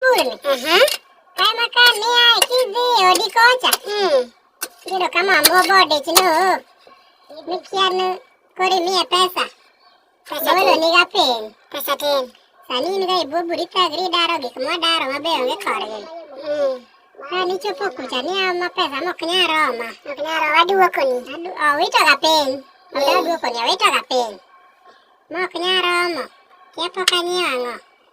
Kuni. Aha. Kaya maka niya kizi odi kocha. Hmm. Kiro kama mbobo de chino. Mikianu kori miya pesa. Pesa Bolo ni ga pen. Pesa ten. Sani ni ga ibu burita gri daro gik mo daro mabe onge korgi. Hmm. Ani chopo kucha ni ama pesa mo knya roma. Knya roma aduwa kuni. Adu, oh, wito ga pen. Adu, aduwa kuni, wito ga pen. Mo knya roma. Kya poka ni ango.